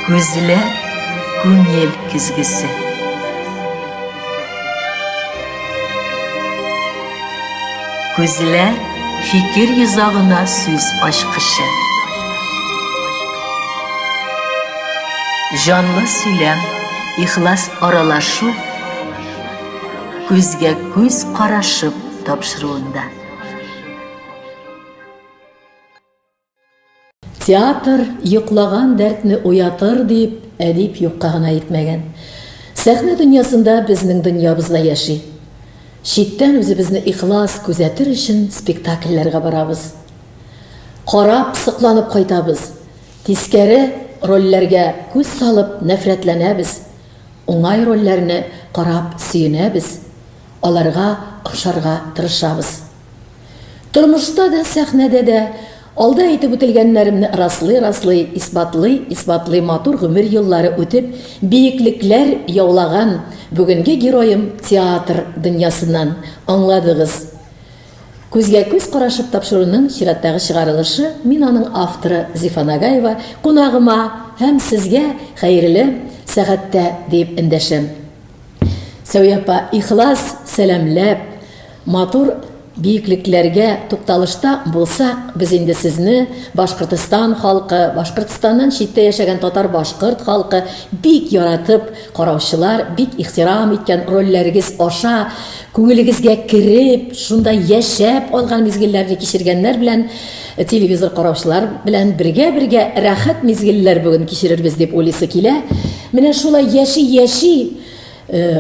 Күзләр күңел көзгесе. Күзләр фикер йозагына сүз ачкычы. Җанлы сөйләм, ихлас аралашу күзгә күз карашып тапшыруында. Театр йоклаган дәртне уятыр, дип, әдип юкка гына әйтмәгән. Сәхнә дөньясында безнең дөньябыз да яши. Читтән үзебезне ихлас күзәтер өчен спектакльләргә барабыз. Карап, сокланып кайтабыз. Тискәре рольләргә күз салып нәфрәтләнәбез. Уңай рольләрне карап сөенәбез, аларга охшарга тырышабыз. Тормышта да, сәхнәдә дә алда әйтеп үтелгәннәремне раслый-раслый, исбатлый-исбатлый матур гомер еллары үтеп, биеклекләр яулаган бүгенге героем театр дөньясыннан, аңладыгыз. Күзгә-күз карашып тапшыруның чираттагы чыгарылышы, мин аның авторы Зифа Нагаева кунагыма һәм сезгә хәерле сәгатьтә диеп эндәшәм. Сәүия апа, ихлас сәламләп, матур биеклекләргә тукталышта булсак, без инде сезне Башкортостан халкы, Башкортостаннан читтә яшәгән татар-башкорт халкы бик яратып караучылар, бик ихтирам иткән рольләрегез аша күңелегезгә кереп, шунда яшәп алган мизгелләрне кичергәннәр белән Телевизор караучылар белән бергә-бергә рәхәт мизгелләр бүген кичерербез дип уйлыйсы килә. Менә шулай яши-яши,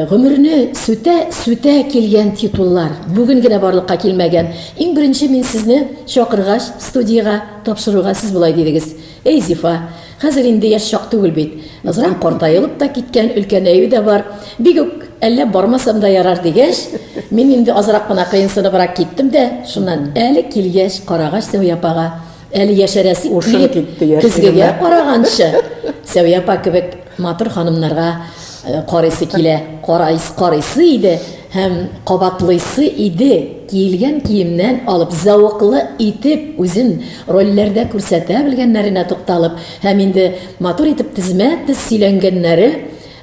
гомерне сүтә-сүтә килгән титуллар, бүген генә барлыкка килмәгән. Иң беренче мин сезне чакыргач студиягә, тапшыруга, сез болай дидегез. Әй, Зифа, хәзер инде яшь чак түгел бит. Назран картаелып та киткән, өлкәнәюе дә бар. Бик үк әллә бармасам да ярар дигәч, мин инде азрак кына кыенсыныбрак киттем дә, шуннан әле килгәч, карагач Сәвия апага, әле яшәрәсе килеп, көзгегә караганчы, Сәвия апа кебек Матур ханымнарга карыйсы килә, карайсы, карыйсы иде һәм кабатлыйсы иде, киелгән киемнән алып, зәвыклы итеп үзен рольләрдә күрсәтә белгәннәренә тукталып һәм инде матур итеп тезмә-тез сөйләнгәннәре,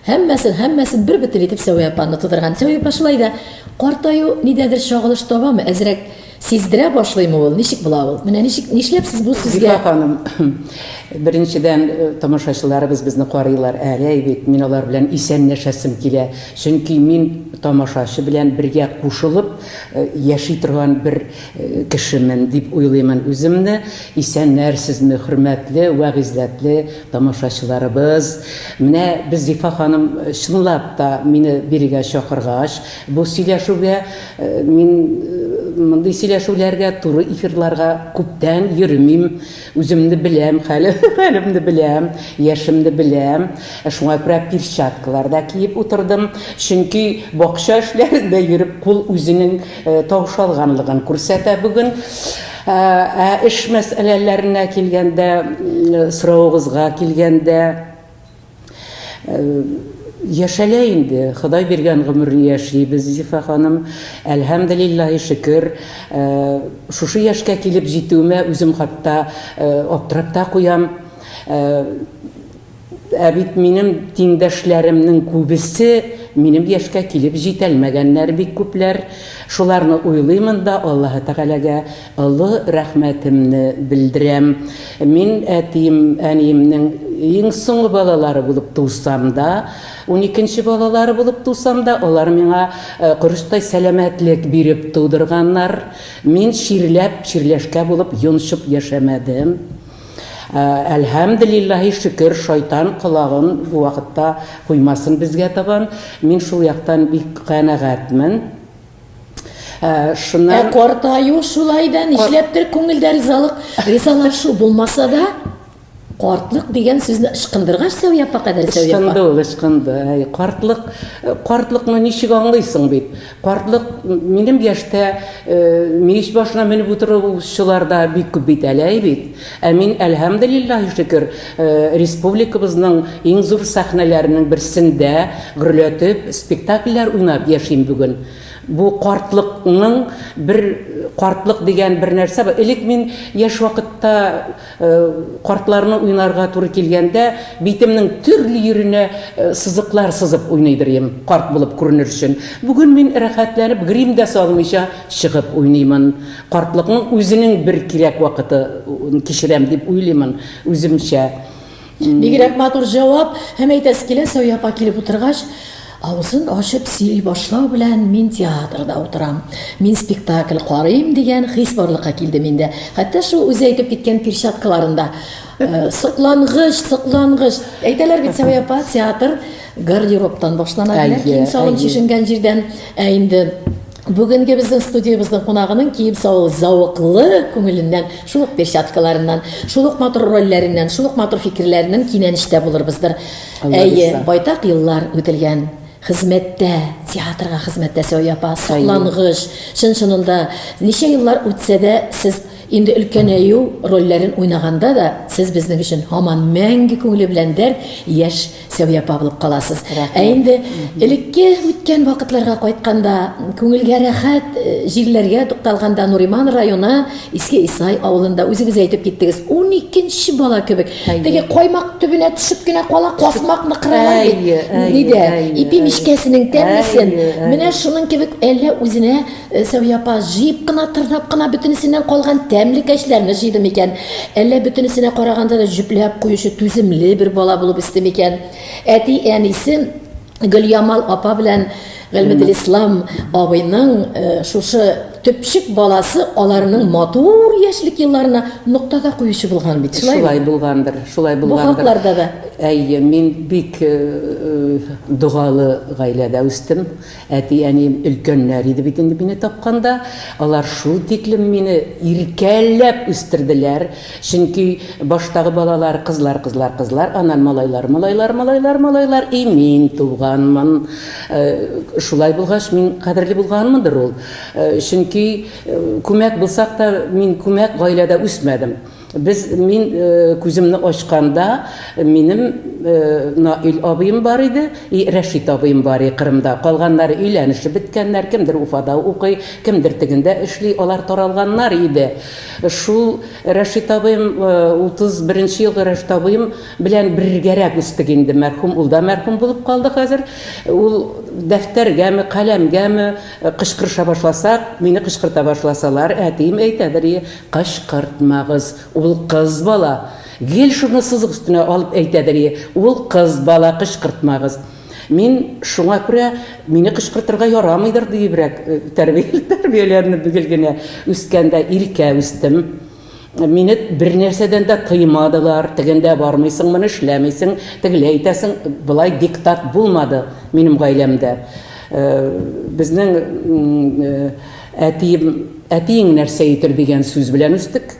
һәммәсен, һәммәсен бербөтен итеп Сәвия апаны тудырган. Сәвия апа шулай да картаю нидәдер чагылыш табамы, әзрәк Сиздерә башлыймы ул? Ничек була ул? Менә ничек, нишләп сез бу сүзгә... Зифа ханым, беренчедән, э, тамашачыларыбыз безне карыйлар әле бит, мин алар белән исәнләшәсем килә. Чөнки мин тамашачы белән бергә кушылып э, яши торган бер э, кешемен дип уйлыймын үземне. Исәннәрсезме, хөрмәтле вә гыйззәтле тамашачыларыбыз. Менә без Зифа ханым чынлап та мине бирегә чакыргач, бу сөйләшүгә Мин мондый сөйләшүләргә, туры эфирларга күптән йөремим. Үземне беләм, хәле, хәлемне беләм, яшемне беләм. Ә шуңа күрә перчаткалар да киеп утырдым. Чөнки бакча эшләрендә йөреп кул үзенең э, таушалганлыгын күрсәтә бүген. Ә, ә эш мәсьәләләренә килгәндә, э, соравыгызга килгәндә, Яшәлә инде, Ходай биргән гомерне яшибез, Зифа ханым. Әлһәмделиллаһи шөкер, шушы яшькә килеп җитүемә үзем хатта аптырап та куям. Ә бит минем тиңдәшләремнең күбесе минем яшькә килеп җитәлмәгәннәр бик күпләр. Шуларны уйлыймын да, Аллаһы Тәгаләгә Олы рәхмәтемне белдерәм. Мин әтием, әниемнең иң соңгы балалары булып тусам да, уникенче балалары булып тусам да, алар миңа корычтай сәламәтлек биреп тудырганнар. Мин чирләп, чирләшкә булып йончып яшәмәдем. Әлһәмделиллаһи шөкер, шайтан колагын бу вакытта куймасын безгә табан. Мин шул яктан бик канәгатьмен. Ә, шуннан... Ә картаю шулай да, нишләптер күңелдә ризалык, ризалашу булмаса да, картлык дигән сүзне ышкындыргач сәүя апа кадәр сәүя апа ышкынды ул ышкынды әй картлык э, картлыкны ничек аңлыйсың бит картлык минем яшьтә э, мич башына менеп утыручылар да бик күп бит әле әй бит Ә мин, әлһәмделиллаһи шөкер, республикабызның иң зур сәхнәләренең берсендә гөрләтеп спектакльләр уйнап яшим бүген. Бу картлыкның бер картлык дигән бер нәрсә бар. Элек мин яшь вакытта картларны уйнарга туры килгәндә, битемнең төрле йиренә сызыклар сызып уйныйдыр идем, карт булып күренер өчен. Бүген мин рәхәтләнеп грим дә салмыйча чыгып уйныймын. Картлыкның үзенең бер кирәк вакыты кичерәм дип уйлыймын үземчә. Бигрәк матур җавап! Һәм әйтәсе килә, Сәвия апа килеп утыргач, авызын ачып сөйли башлау белән, мин театрда утырам, мин спектакль карыйм, дигән хис барлыкка килде миндә. Хәтта шул үзе әйтеп киткән перчаткаларын да. Соклангыч, соклангыч! Әйтәләр бит, Сәвия апа, театр гардеробтан башлана, диләр, кием-салым чишенгән җирдән. Ә инде. Бүгенге безнең студиябезнең кунагының кием салу зәвыклы күңеленнән, шул ук перчаткаларыннан, шул ук матур рольләреннән, шул ук матур фикерләреннән кинәнештә булырбыздыр. Әйе, байтак еллар үтелгән хезмәттә, театрга хезмәттә Сәвия апа, соклангыч, чын-чынында ничә еллар үтсә дә, сез инде өлкәнәю рольләрен уйнаганда да, сез безнең өчен һаман мәңге күңеле белән дәрт, яшь Сәвия Павлов каласыз. Ә инде элекке үткән вакытларга кайтканда, күңелгә рәхәт э, җирләргә тукталганда Нуриман районы Иске Исай авылында үзегез әйтеп киттегез. 12 бала кебек. Теге каймак төбенә төшеп кенә кала касмак мыкрыйлар бит. Нидә? Ипи мишкәсенең тәмлесен. Менә шуның кебек әллә үзенә Сәвия апа җыеп кына, тырнап кына бөтенесеннән калган тәмле кәчләрне җыйды микән? Әллә бөтенесенә караганда да җөпләп куючы түземле бер бала булып үсте микән? Әти-әнисе Гөлъямал апа белән Гыйльметлислам абыйның шушы төпчек баласы аларның матур яшьлек елларына нокта да куючы булган бит, шулаймы? Шулай булгандыр, шулай булгандыр. Бу хакларда да. Әйе, мин бик догалы гаиләдә үстем. Әти-әнием өлкәннәр иде бит инде мине тапканда. Алар шул тиклем мине иркәләп үстерделәр. Чөнки баштагы балалар, кызлар, кызлар, кызлар, аннан малайлар, малайлар, малайлар, малайлар, и мин туганмын. Шулай булгач, мин кадерле булганмындыр ул. Чөнки күмәк булсак та, мин күмәк гаиләдә үсмәдем. Без, мин күземне ачканда, минем Наил абыем бар иде, и Рәшит абыем бар иде Кырымда. Калганнары өйләнешеп беткәннәр, кемдер Уфада укый, кемдер тегендә эшли, алар таралганнар иде. Шул Рәшит абыем, 31 нче елгы Рәшит абыем белән бергәрәк үстек инде, мәрхүм, ул да мәрхүм булып калды хәзер. Ул дәфтәргәме, каләмгәме кычкырыша башласак, мине кычкырта башласалар, әтием әйтәдер, и Кычкыртмагыз, ул кыз бала! Гел шуны сызык өстенә алып әйтәдер ие, ул кыз бала, кычкыртмагыз! Мин шуңа күрә мине кычкыртырга ярамыйдыр диебрәк тәрбияләнеп гел генә үскән дә, иркә үстем. Мине бернәрсәдән дә тыймадылар, тегендә бармыйсың, моны эшләмисең, тегеләй әйтәсең, болай диктат булмады минем гаиләмдә. Безнең Әтием, әтиең нәрсә итер дигән сүз белән үстек.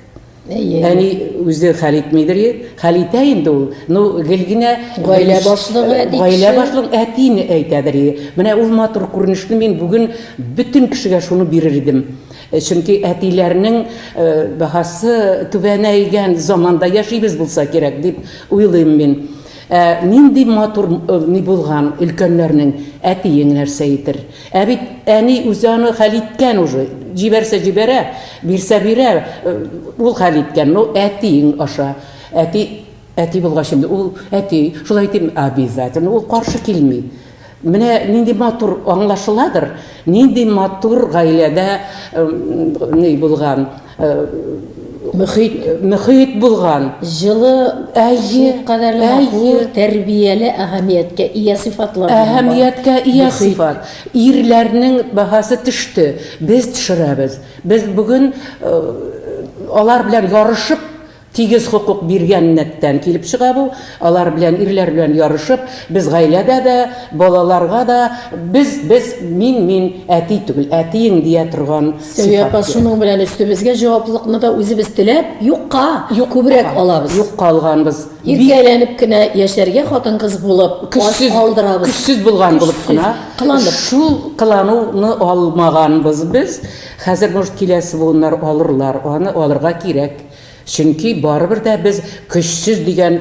Әни үзе хәл итмидер, хәл итә инде ул. Ну, гел генә гаилә башлыгы, гаилә башлыгы әтине әйтәдер. Менә ул матур күренешне мин бүген бөтен кешегә шуны бирер идем. Э, чөнки әтиләрнең э, баһасы түбәнәйгән заманда яшибез булса кирәк дип уйлыйм мин. Ә нинди матур э, ни булган өлкәннәрнең әтиең нәрсә итер? Ә бит әни үзе аны хәл иткән уже. Җибәрсә җибәрә, бирсә бирә, э, ул хәл иткән. Ну, әтиең аша. Әти, әти булгач инде ул әти, шулай дим, обязательно ул каршы килми. Менә нинди матур аңлашыладыр, нинди матур гаиләдә э, ни булган. мөхит мөхит булган җылы әйе кадәрле әйе тәрбияле әһәмияткә ия сыйфатлар әһәмияткә ия сыйфат ирләрнең бәһасе төште без төшерәбез без бүген алар белән ярышып Тигез хокук биргәннәктән килеп чыга бу. Алар белән, ирләр белән ярышып, без гаиләдә дә, балаларга да без, без, мин, мин, әти түгел, әтиең дия торган сыйфат. Сәвия апа, шуның белән өстебезгә җаваплылыкны да үзебез теләп, юкка, юк, күбрәк алабыз. Юкка алганбыз. Иркә әйләнеп кенә яшәргә хатын-кыз булып, аш калдырабыз. Көчсез булган булып кына. Кыланып. Шул кылануны алмаганбыз без. Хәзер, может, киләсе буыннар алырлар, аны алырга кирәк. Чөнки барыбер дә без көчсез дигән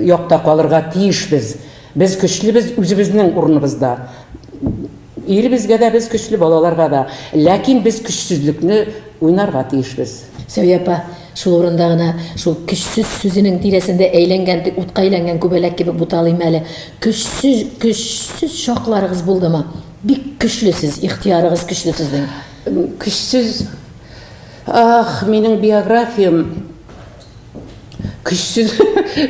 якта калырга тиешбез. Без көчлебез үзебезнең урыныбызда. Иребезгә дә без көчле, балаларга да. Ләкин без көчсезлекне уйнарга тиешбез. Сәвия апа, шул урында гына, шул көчсез сүзенең тирәсендә әйләнгән, ди, утка әйләнгән күбәләк кебек буталыйм әле. Көчсез, көчсез чакларыгыз булдымы? Бик көчле сез, ихтыярыгыз көчле сезнең. Көчсез. Ах, минем биографиям көчсез,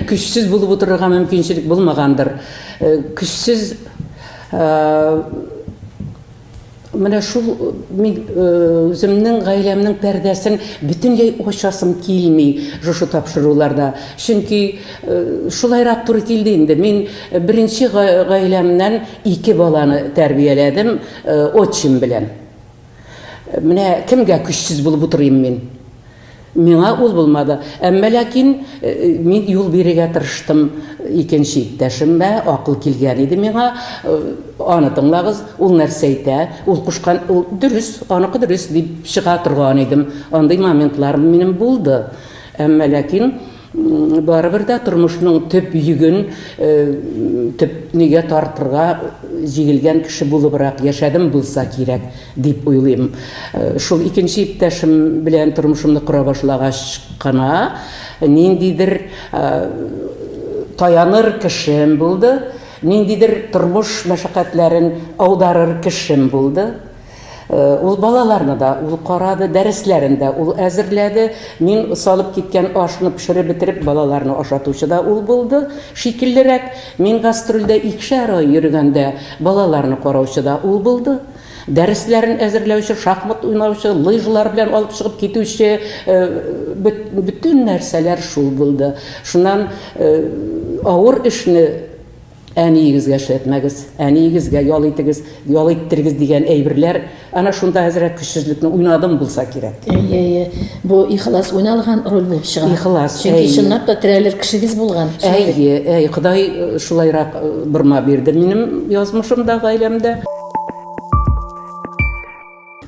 көчсез булып утырырга мөмкинчелек булмагандыр. Э, көчсез э, менә шул э, мин үземнең гаиләмнең пәрдәсен бөтенләй ачасым килми шушы тапшыруларда. Чөнки шулайрак туры килде инде. Мин беренче гаиләмнән ике баланы тәрбияләдем отчим белән. Менә кемгә көчсез булып утырыйм мин? Миңа ул булмады. Әмма ләкин э, мин юл бирергә тырыштым икенче иптәшемә, акыл килгән иде миңа. Э, аны тыңлагыз, ул нәрсә әйтә? Ул кушкан, ул дөрес, аныкы дөрес дип чыга торган идем. Андый моментлар минем булды. Әмма ләкин Барыбер дә тормышның төп йөген төп нигә тартырга җигелгән кеше булыбрак яшәдем булса кирәк, дип уйлыйм. Шул икенче иптәшем белән тормышымны кора башлагач кына ниндидер таяныр кешем булды, ниндидер тормыш мәшәкатьләрен аударыр кешем булды. Ул балаларны да ул карады, дәресләрен дә ул әзерләде. Мин салып киткән ашны пешереп бетереп, балаларны ашатучы да ул булды шикеллерәк. Мин гастрольдә икешәр ай йөргәндә, балаларны караучы да ул булды. Дәресләрен әзерләүче, шахмат уйнаучы, лыжалар белән алып чыгып китүче, бөтен нәрсәләр шул булды. Шуннан авыр эшне Әниегезгә эшләтмәгез, әниегезгә ял итегез, ял иттерегез дигән әйберләр, әнә шунда әзрәк көчсезлекне уйнадым булса кирәк. Әйе, әйе. Бу ихлас уйналган роль булып чыга. Ихлас, әйе. Чөнки чынлап та терәлер кешегез булган. Әйе, әйе. Ходай шулайрак борма бирде минем язмышымда, гаиләмдә.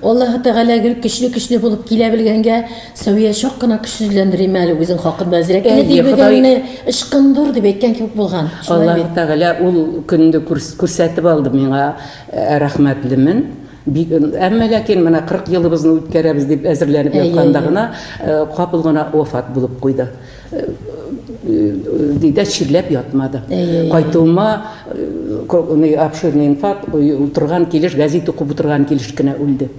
Аллаһы Тәгалә гел көчле-көчле булып килә белгәнгә, Сәвия чак кына көчсезләндерә име әле үзен хакында. Әзрәк кенә Әйе, тибегәнне Ходай- ычкындыр дип әйткән кебек булган. Шулай Аллаһы бит? Тәгалә ул көнне күрс- күрсәтеп алды миңа, ә, рәхмәтлемен. Бик, әмма ләкин менә 40 елыбызны үткәрәбез дип әзерләнеп Әйе, ятканда әйе. гына, э, капыл гына вафат булып куйды. Дидә чирләп ятмады. Кайтуыма э, обширный инфаркт утырган килеш, газет укып утырган килеш кенә үлде.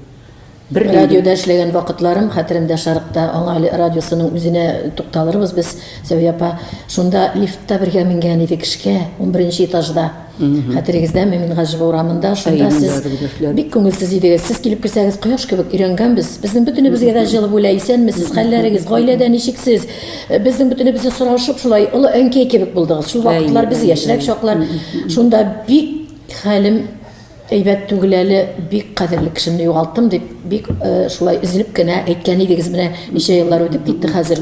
Бер радиода эшләгән вакытларым хәтеремдә шарыкта. Аңа әле радиосының үзенә тукталырбыз без, Зәвия апа. Шунда лифтта бергә менгән идек эшкә, 11 нче этажда. Хәтерегездә Мөмин Гаҗиба урамында шунда сез бик күңелсез идегез. Сез килеп керсәгез, кояш кебек өйрәнгәнбез. Безнең бөтенебезгә дә җылы бүлә, исәнмесез, хәлләрегез, гаиләдә ничексез? Э, безнең бөтенебезне сорашып, шулай олы әнкәй кебек булдыгыз. Шул вакытлар без яшьрәк чаклар. Шунда бик хәлем Әйбәт түгел әле, бик кадерле кешемне югалттым, дип, бик шулай өзелеп кенә әйткән идегез. Менә ничә еллар үтеп китте хәзер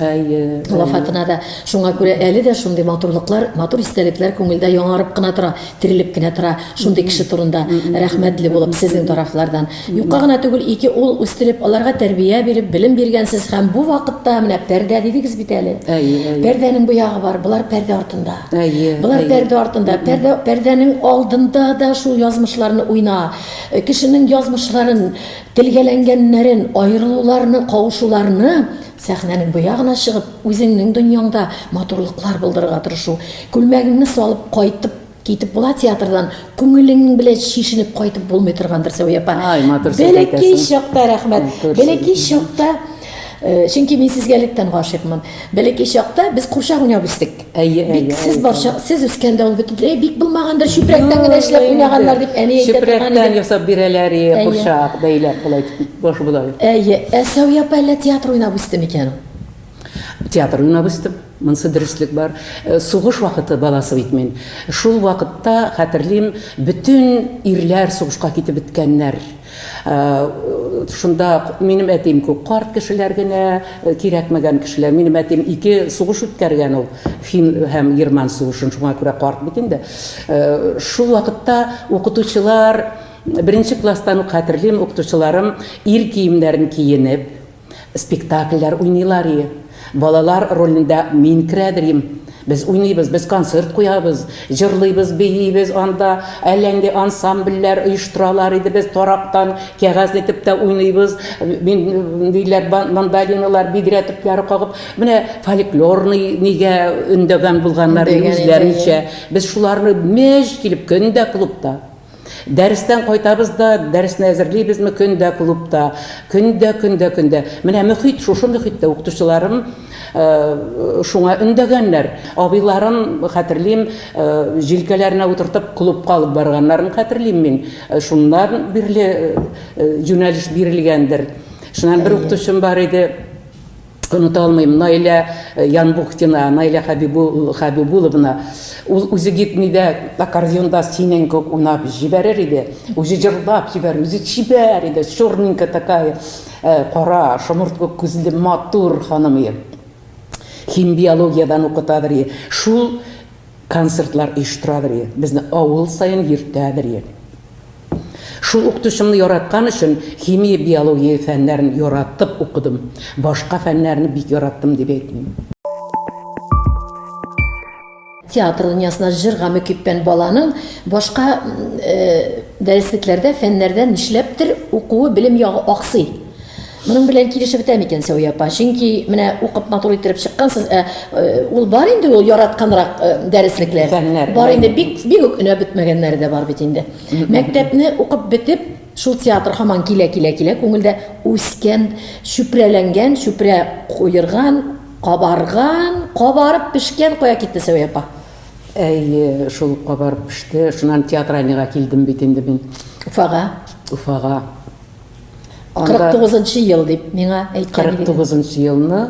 вафатына да. Шуңа күрә әле дә шундый матурлыклар, матур истәлекләр күңелдә яңарып кына тора, терелеп кенә тора шундый кеше турында. Рәхмәтле булып сезнең тарафлардан. Юкка гына түгел, ике ул үстереп, аларга тәрбия биреп, белем биргәнсез һәм бу вакытта менә пәрдә дидегез бит әле. Пәрдәнең бу ягы бар, болар пәрдә артында. Әйе. Болар пәрдә артында, пәрдә, пәрдәнең алдында да шул язмышларны уйна. Э, кешенең язмышларын, телгәләнгәннәрен, аерылуларны, кавышуларны сәхнәнең бу ягына чыгып, үзеңнең дөньяңда матурлыклар булдырырга тырышу. Күлмәгеңне салып кайтып китеп була театрдан күңелең белән чишенеп кайтып булмый торгандыр Сәвия апа. Ай, матур сүз Бәләкәй әйтәсең. чакта рәхмәт. Матур сүз. Бәләкәй чакта э, чөнки мин сезгә электән гашыйкмын. Бәләкәй чакта без курчак уйнап үстек. Әйе, әйе. Бик сез барча, сез үскәндә ул бөтенләй бик булмагандыр, чүпрәктән генә эшләп уйнаганнар дип әни әйтә Чүпрәктән ясап бирәләр, и, курчак, бәйләп болай, баш болай. Әйе, ә Сәвия апа әллә театр уйнап үсте микән? Театр уйнап үстем. Монсы дөреслек бар. Э, сугыш вакыты баласы бит мин. Шул вакытта хәтерлим, бөтен ирләр сугышка китеп беткәннәр. Шунда минем әтием күп карт кешеләр генә, кирәкмәгән кешеләр. Минем әтием ике сугыш үткәргән ул, фин һәм герман сугышын, шуңа күрә карт бит инде. Шул вакытта укытучылар, беренче класстан ук хәтерлим, укытучыларым ир киемнәрен киенеп, Спектакльләр уйныйлар и, балалар ролендә мин керәдер им. Без уйныйбыз, без концерт куябыз, җырлыйбыз, биибез анда, әллә нинди ансамбльләр оештыралар иде, без тарактан кәгазь итеп тә уйныйбыз, мин, ниләр, мандолиналар, бидрә төпләре кагып. Менә фольклорный нигә өндәгән булганнар, үзләренчә. Без шуларны мәҗ килеп, көн дә клубта. Дәрестән кайтабыз да, дәресне әзерлибезме көн дә клубта. Көн дә, көн дә, көн дә. Менә мөхит, шушы мөхиттә укытучыларым шуңа өндәгәннәр. Абыйларым, хәтерлим, җилкәләренә утыртып клубка алып барганнарын хәтерлим мин. Шуннан бирле юнәлеш бирелгәндер. Шуннан бер укытучым бар иде. Оныта алмыйм, Наилә Янбухтина, Наилә Хәбибуловна. Ул үзе гитми дә, аккордеонда синең кебек уйнап җибәрер иде. Үзе җырлап җибәрер, үзе чибәр иде, черненькая такая, кара, шомырт кебек күзле, матур ханым иде. Химбиологиядән укытадыр иде. Шул концертлар оештырадыр идек. Безне авыл саен йөртәдер идек. Шул укытучымны яраткан өчен химия, биология фәннәрен яратып укыдым. Башка фәннәрне бик яраттым дип әйтмим. Театр дөньясына җырга мөкиббән баланың башка дәреслекләрдә, фәннәрдә нишләптер укуы, белем ягы аксый. Моның белән килешеп бетә микән Сәвия апа? Чөнки менә укып матур иттереп чыккансыз, ә э, ул бар инде ул яратканрак э, дәреслекләр. Фәннәр. Бар инде бик бик үк өнәп бетмәгәннәре дә бар бит инде. Мәктәпне укып бетеп, шул театр һаман килә килә килә күңелдә үскән, чүпрәләнгән, чүпрә куерган, кабарган, кабарып пешкән кая китте Сәвия апа? Әйе, шул кабарып пеште. Шуннан театральныйга килдем бит инде мин. Уфага. Уфага. 49 нчы ел дип миңа әйткән идегез. 49 нчы елны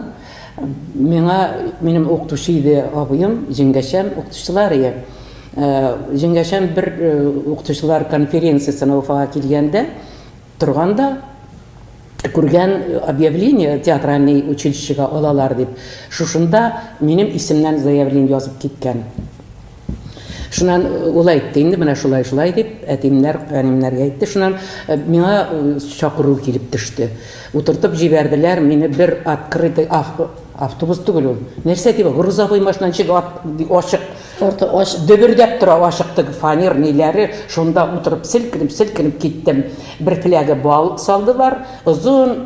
миңа минем укытучы иде абыем, җиңгәшәм, укытучылар ие. Э, җиңгәшәм бер э, укытучылар конференциясенә Уфага килгәндә торганда күргән объявление театральный училищега алалар дип. Шушында минем исемнән заявление язып киткән. Шуннан ул әйтте, инде менә шулай, шулай дип, әтимнәр, әнимнәргә әйтте. Шуннан миңа чакыру килеп төште. Утыртып җибәрделәр мине бер открытый автобус түгел ул. Нәрсә дип, грузовой машина ничек ачык, Орта ачык. Дөбердәп тора ачыктык фанер ниләре, шунда утырып селкенеп, селкенеп киттем. Бер фляга бал салдылар, озын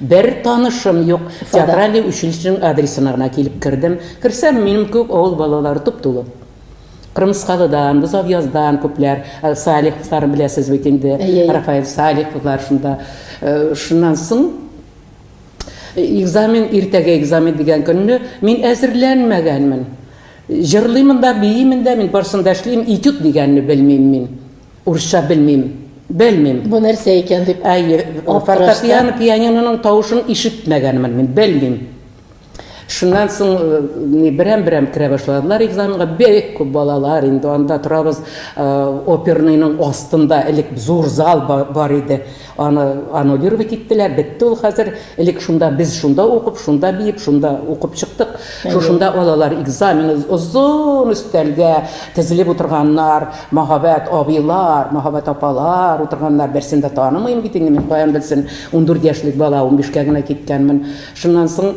Бер танышым юк. Театральный училищеның адресына гына килеп кердем. Керсәм, минем кебек авыл балалары туп-тулы. Кырмыскалыдан, Бозавъяздан күпләр, э, Салиховлар беләсез бит инде, Рафаэль Салиховлар шунда. Э, шуннан соң экзамен, иртәгә экзамен дигән көнне мин әзерләнмәгәнмен. Җырлыймын да, биимен дә, мин барысын да эшлим, этюд дигәнне белмим мин. Урысча белмим, белмим. Бу нәрсә икән дип Әйе, фортепиано, пианиноның тавышын ишетмәгәнмен мин, белмим. Шуннан соң э, берәм-берәм керә башладылар экзаменга. Бик күп балалар инде анда торабыз. Э, оперныйның астында элек зур зал бар иде. Аны аннулировать иттеләр, бетте ул хәзер. Элек шунда без шунда укып, шунда биеп, шунда укып чыктык. Шушында алалар экзамен, озын өстәлгә тезелеп утырганнар, мәһабәт абыйлар, мәһабәт апалар утырганнар, берсен дә танымыйм бит инде мин, каян белсен, ундүрт яшьлек бала, унбишкә генә киткәнмен. Шуннан соң.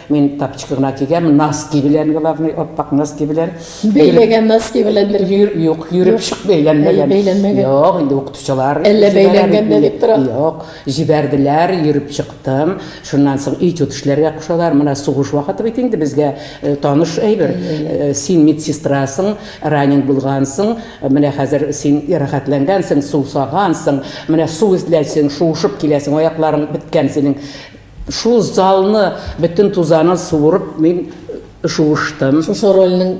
Мин тапочка гына кигәм, носки белән, главный, ап-ак носки белән. Бәйләгән носки белән бер. Йөр, юк, йөреп чык бәйләнмәгән. Бәйләнмәгән. Юк, инде укытучылар. Әллә бәйләнгән дә дип тора. Юк, җибәрделәр, йөреп чыктым. Шуннан соң этюд эшләргә кушалар. Менә сугыш вакыты бит инде безгә э, таныш әйбер. Э, син медсестрасың, ранен булгансың, менә хәзер син рәхәтләнгәнсең, сусагансың, менә су эзләсең, шуышып киләсең, аякларың беткән синең. Шул залны бөтен тузанын суырып мин шуыштым. Шушы рольнең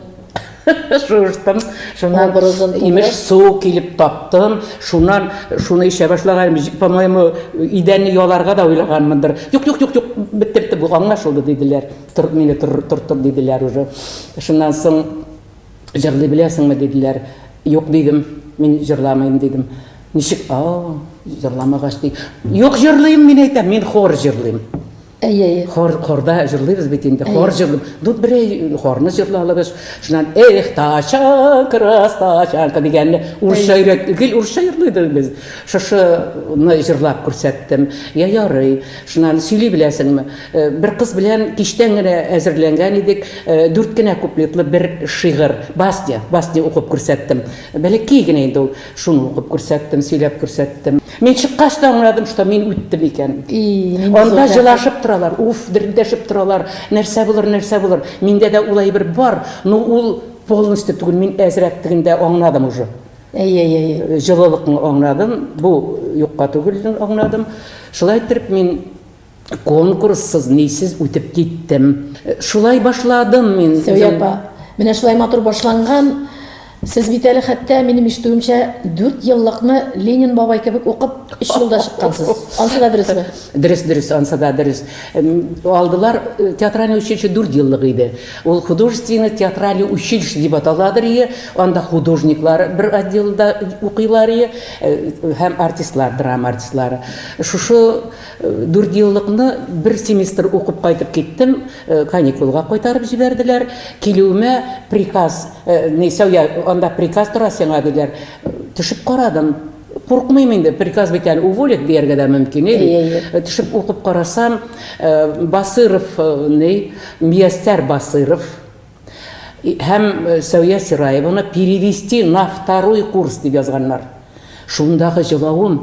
шуыштым. Шуннан образын имеш суу килеп таптым. Шуннан шуны эчә башлаганым, по-моему, идәнне яларга да уйлаганмындыр. Юк, юк, юк, юк, беттерде бу, аңлашылды диделәр. Тор, мине тор, тор, тор диделәр уже. Шуннан соң Җырлый беләсеңме, диделәр. Юк, дидем, мин җырламыйм, дидем. Ничек, а-а, җырламагач, ди. Юк, җырлыйм, мин әйтәм, мин хор җырлыйм. Әйе, әйе. Хор, хорда җырлыйбыз бит инде, хор җырлыйм. Ду, берәй хорны җырладыгыз. Шуннан, эх, тача, крас, тача, дигәнне, урысча өйрәт, гел урысча җырлый идек без. Шушыны җырлап күрсәттем. Я, ярый. Шуны аны сөйли беләсеңме? Бер кыз белән кичтән генә әзерләнгән идек, дүрт кенә куплетлы бер шигырь, басня, басня укып күрсәттем. Бәләкәй генә инде ул. Шуны укып күрсәттем, сөйләп күрсәттем. Мин чыккач та аңладым, что мин үттем икән. И, нинди зур Анда җылашып торалар, уф, дерелдәшеп торалар, нәрсә булыр, нәрсә булыр. Миндә дә ул әйбер бар, но ул полностью түгел, мин әзрәк тегендә аңладым уже. Әй, әй, әй, җылылыкны аңладым, бу юкка түгелден аңладым. Шулай итеп мин конкурссыз, нисез үтеп киттем. Шулай башладым мин. Сөяпа. Менә шулай матур башланган. Сез бит әле хәтта минем ишетүемчә 4 еллыкны Ленин бабай кебек укып 3 елда чыккансыз. Ансы да дөресме? Дөрес, дөрес, ансы да дөрес. Алдылар э, театральный училище 4 еллык иде. Ул художественный театральный училище дип аталадыр ие, анда художниклар бер отделда укыйлар ие, һәм артистлар, драма артистлары. Шушы дүртьеллыкны бер семестр укып кайтып киттем, каникулга кайтарып җибәрделәр. Килүемә приказ, ни, сәү, анда приказ тора сиңа, диләр. Төшеп карадым. Куркмыйм инде, приказ бит әле уволить дияргә дә мөмкин, ил. Э, Төшеп укып карасам, э, Басыров, э, ни, Миястәр Басыров һәм Сәүя Сираеваны перевести на второй курс дип язганнар. Шундагы җылавым,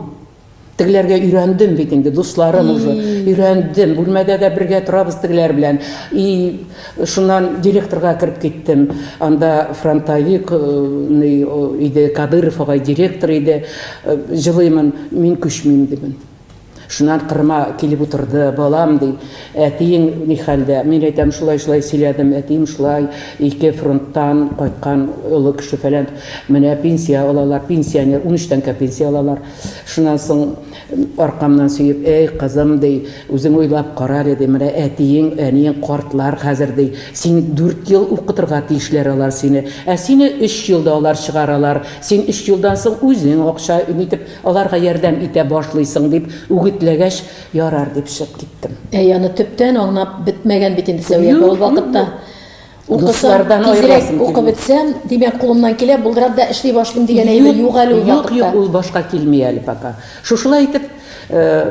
тегеләргә өйрәндем бит инде, дусларым уже, өйрәндем, бүлмәдә дә бергә торабыз тегеләр белән. И Шуннан директорга кереп киттем. Анда фронтовик ный иде, Кадыров агай директор иде. Җылыймын, мин күчмим, дибен. Шуннан Кырыма килеп утырды. Балам, ди, әтиең ни хәлдә? Мин әйтәм, шулай-шулай сөйләдем, әтием шулай, ике фронттан кайткан олы кеше-фәлән. Менә пенсия алалар, пенсионер, унөч тәңкә пенсия алалар. Шуннан соң Аркамнан сөеп, Әй, кызым, ди, үзең уйлап кара әле, ди, менә әтиең, әниең картлар хәзер, ди. Син дүрт ел укытырга тиешләр алар сине. Ә сине өч елда алар чыгаралар. Син өч елдан соң үзең акча итеп аларга ярдәм итә башлыйсың, дип үгетләгәч, Ярар, дип чыгып киттем. Әй, аны төптән аңлап бетмәгән бит инде Сәвия апа ул вакытта. Укысам, тизрәк укып бетсәм, димәк, кулымнан килә, булдырам да эшли башлыйм дигән әйбер юк әле ул вакытта. Юк, юк, ул башка килми әле пока. Шушылай итеп,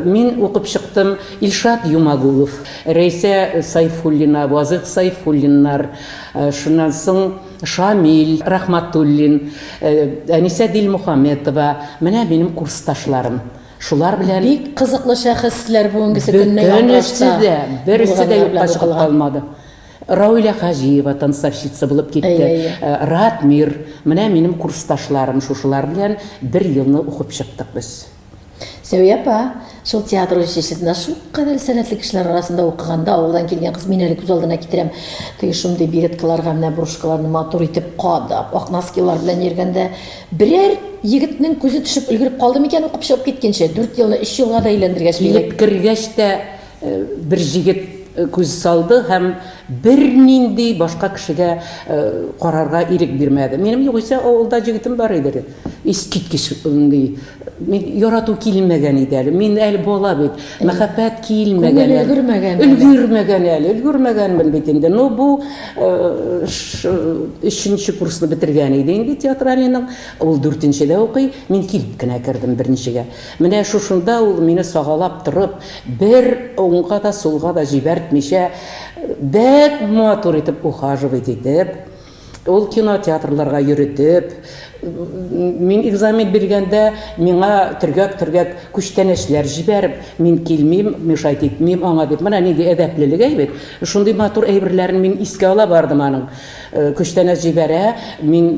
мин укып чыктым. Илшат Юмагулов, Рәйсә Сайфуллина, Вазыйх Сайфуллиннар, шуннан соң Шамил Рахматуллин, Әнисә Дилмухаметова, менә минем курсташларым. Шулар белән Бик кызыклы шәхесләр бүгенгесе көнне янлыкта. Бөтенесе дә, берсе дә юкка чыгып калмады. Рауилә Хаҗиева танцовщица булып китте. Ратмир, менә минем курсташларым, шушылар белән бер елны укып чыктык без. Сәвия апа, шул театр училищесында шулкадәр сәләтле кешеләр арасында укыганда, авылдан килгән кыз, мин әле күз алдына китерәм, теге шундый береткаларга менә брошкаларны матур итеп кадап, ак носкилар белән йөргәндә, берәр егетнең күзе төшеп өлгереп калды микән укып чыгып киткәнче? Дүрт елны өч елга да әйләндергәч, милек. Килеп кергәч тә. Бер җегет күз салды һәм бернинди башка кешегә карарга ирек бирмәде. Минем югыйсә авылда җегетем бар иде. Искиткеч ди. Мин ярату килмәгән иде әле. Мин әле бала бит. Мәхәббәт килмәгән. Күңел өлгермәгән. Өлгермәгән әле. Өлгермәгәнмен бит инде. Ну бу өченче курсны бетергән иде инде театральныйның. Ул дүртенчедә укый. Мин килеп кенә кердем беренчегә. Менә шушында ул мине сагалап торып, бер уңга да, сулга да җибәртмичә, бәк матур итеп ухаживать итеп, ул кинотеатрларга йөретеп, мин экзамен биргәндә, миңа төргәк-төргәк күчтәнәчләр җибәреп, мин килмим, мешать итмим аңа дип, менә нинди әдәплелек, әй бит! Шундый матур әйберләрен мин искә ала бардым аның. Күчтәнәч җибәрә, мин